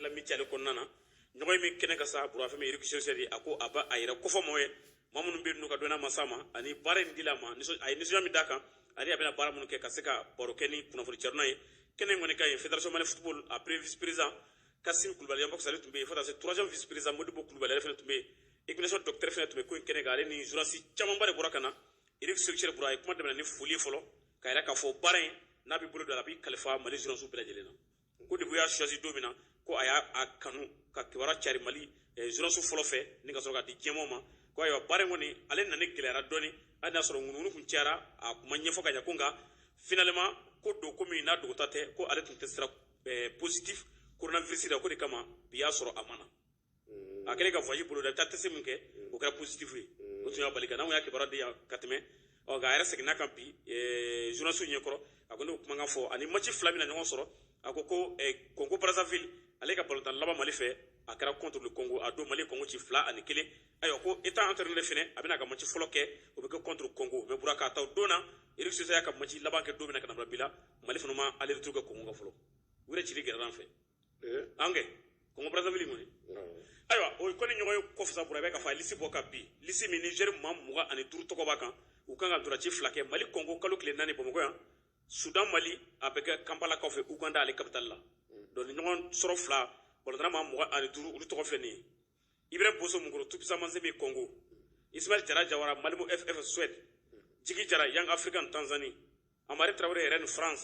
l'amitié kɔnɔna na ɲɔgɔnye min kɛnɛ kan sa bura fɛn min ye eric chelle a ko a b'a yɛrɛ kofɔ mɔgɔw ye maa minnu bɛ n'u ka dɔnna masa ma ani baara in dil'a ma a ye nisɔndiya min d'a kan ani a bɛna baara minnu kɛ ka se ka baro kɛ ni kunnafoni carinaw ye kɛnɛ in kɔni kan yen federation mali football a premier vice président kasim kulubali yambox ale tun bɛ yen fo ka se troisième vice président modibo kulubali ale fana tun bɛ yen équipe docteur fana tun bɛ ko in kɛnɛ kan ani journaliste camanba de bɔra ka na eric chelle bura a ye kuma daminɛ ni foli fɔlɔ k'a yira k'a fɔ baara in n'a b'i bolo don a la a b'i kalifa mali journaliste bɛɛ lajɛlen na ko depuis u y'a choisi don min na ko a y'a kanu ka kibaru cari mali journalistew fɔlɔ fɛ ni ka sɔrɔ k'a di jama ma ko ayiwa baara in kɔni ale nani gɛlɛyara dɔɔnin a y'a sɔrɔ ŋunuŋunukan cayara a kun ma ɲɛfɔ ka ɲɛ ko nka finalement ko don ko min n'a dogota tɛ ko ale tun testéra positif coronavirus la k'o de kama bi y'a sɔrɔ a ma na a kɛlen ka voyage boloda i bɛ taa test min kɛ o kɛra positif ye o tun y'a bali ka na anw y'a kibaruya di yan ka tɛmɛ ɔ nka a yɛrɛ seginn'a kan bi journaliste ɲɛ kɔrɔ a ko ne kumakan fɔ ani match fila bɛna ɲɔgɔn sɔrɔ a ko ko Congo Brazzaville ale ka balontan laban Mali fɛ a kɛra contre le Congo a don Mali Congo ci fila ani kelen ayiwa ko étant entraîneur fɛnɛ a bɛn'a ka match fɔlɔ kɛ o bɛ kɛ contre Congo mais bura k'a ta o don na Eric Sékou Chelle y'a ka match laban kɛ don min na ka na bila bi la Mali fana ma aller retour kɛ Congo kan fɔlɔ u yɛrɛ cili gɛlɛyara an fɛ eh? ange kongo brazzaville kɔni ayiwa o ye kɔni ɲɔgɔnye kɔfɛ sa bura bɛ ka fa lisi bɔ ka bi lisi min ni joueur maa mugan ani duuru tɔgɔ b'a kan u kan ka ntolaci fila kɛ mali kongo kalo tile naani bamakɔ yan sudan mali a bɛ kɛ kanpala kɔfɛ uganda ale kapitali la donc nin ɲɔgɔnsɔrɔ fila balontanna maa mugan ani duuru olu tɔgɔ filɛ nin ye ibrahim boso munkoro tout puissant mazembe kongo ismail jara jawara malmö ff suède jigi jara young africans tanzanie hamari tarawele rennes france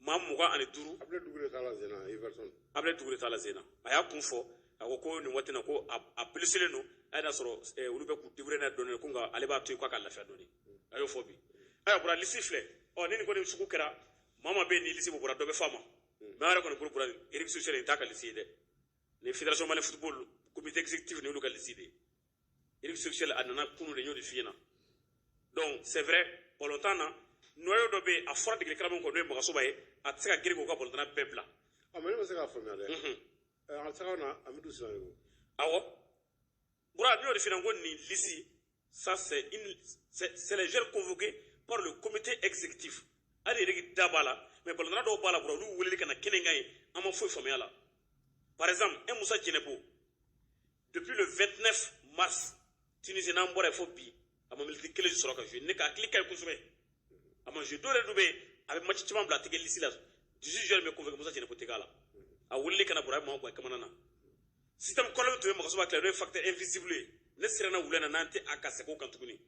maa mugan ani duuru abdoulaye doucouré t'a la zena everton abdoulaye doucouré t'a la zena a y'a kun fɔ a ko ko nin waati na ko a blessélen don a y'a sɔrɔ eh, olu bɛ k'u débrouiller n'a dɔɔni ko nka ale b'a to yen k'a ka lafiya dɔɔni a y'o fɔ bi ayiwa bura lisi filɛ ɔ ni nin kɔni sugu kɛra maa maa bɛ yen ni lisi bɔra dɔ bɛ f'a ma mais an yɛrɛ kɔni bolo bura eric sékou chelle nin t'a ka lisi ye dɛ nin federation mali football comité exécutif nin y'olu ka lisi de ye Eric Sékou Chelle a nana kunu dɛ n y'o de f'i ɲɛna donc c'est vrai balontanna noyau dɔ bɛ yen a fɔra degeli karamɔgɔ kɔ n'o ye magasuba ye a tɛ se ka girin k'o ka balontanna bɛɛ bila ah mais ne ma se k'a faamuya dɛ an taga na amidu sinayogo awɔ bura ne y'o de f'i ɲɛna ko nin lisi ça c'est une c'est les joueurs convoqués par le comité exécutif hali Eric da b'a la mais balontanna dɔw b'a la bura olu weleli ka na kɛnɛ kan yen an ma foyi faamuya a la par exemple un musa jɛnɛpo depuis le 29 mars tunisie n'an bɔra yen fo bi a ma miniti kelen sɔrɔ ka jouer ne ka hakili ka ɲi kosɛbɛ a ma jouer dɔw yɛrɛ dun bɛ yen a bɛ match caman bila a tɛ kɛ lisi la 18 joueurs bɛ convoqué musa jɛnɛpo tɛ k'a la a weleli ka na bura a bɛ maa gan kamana na système kolon min tun bɛ magasuba kɛlɛ n'o ye facteur invisible ye ne siranna o le na n'an tɛ ka segin o kan tuguni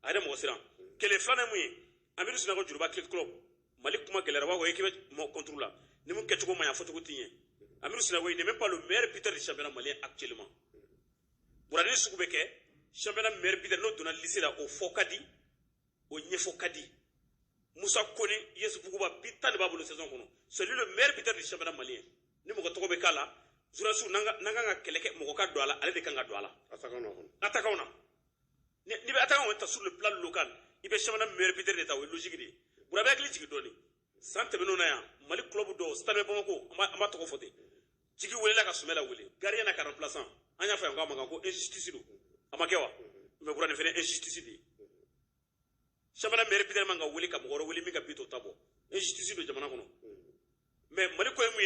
a yɛrɛ mɔgɔ siran kɛlɛ filanan min ye amidu sinayɔgɔ joliba athlétic club mali kuma gɛlɛyara b'a ko équipe mɔ kɔnturu la ni min kɛcogo ma ɲa fɔcogo ti ɲɛ amidu sinayɔgɔ n'est même pas le meilleur buteur du championnat malien actuellement bura nin sugu bɛ kɛ championnat meilleur buteur n'o donna liste la o fɔ ka di o ɲɛfɔ ka di musa kone us buguba bi tan de b'a bolo saison kɔnɔ c'est lui le meilleur buteur du championnat malien ni mɔgɔ tɔgɔ bɛ k'a la journalistes n'an ka kan ka kɛlɛ kɛ mɔgɔ ka don a la ale de kan ka don a la attaquantw na ni i bɛ attaquant kɔni ta sur le plan local i bɛ championnat meilleur buteur de ta o ye logique de ye bura b'i hakili jigin dɔɔni san tɛmɛnenw na yan mali club dɔ stade bamako an b'a an b'a tɔgɔ fɔ ten jigi welela ka sumayila wele gardien na ka remplaçant an y'a fɔ yan ko a man kan ko injustice don a ma kɛ wa mais bura nin fana injustice de ye championnat meilleur buteur man ka wele ka mɔgɔ wɛrɛ wele min ka bi t'o ta bɔ injustice don jamana kɔnɔ mais mali ko ye mun ye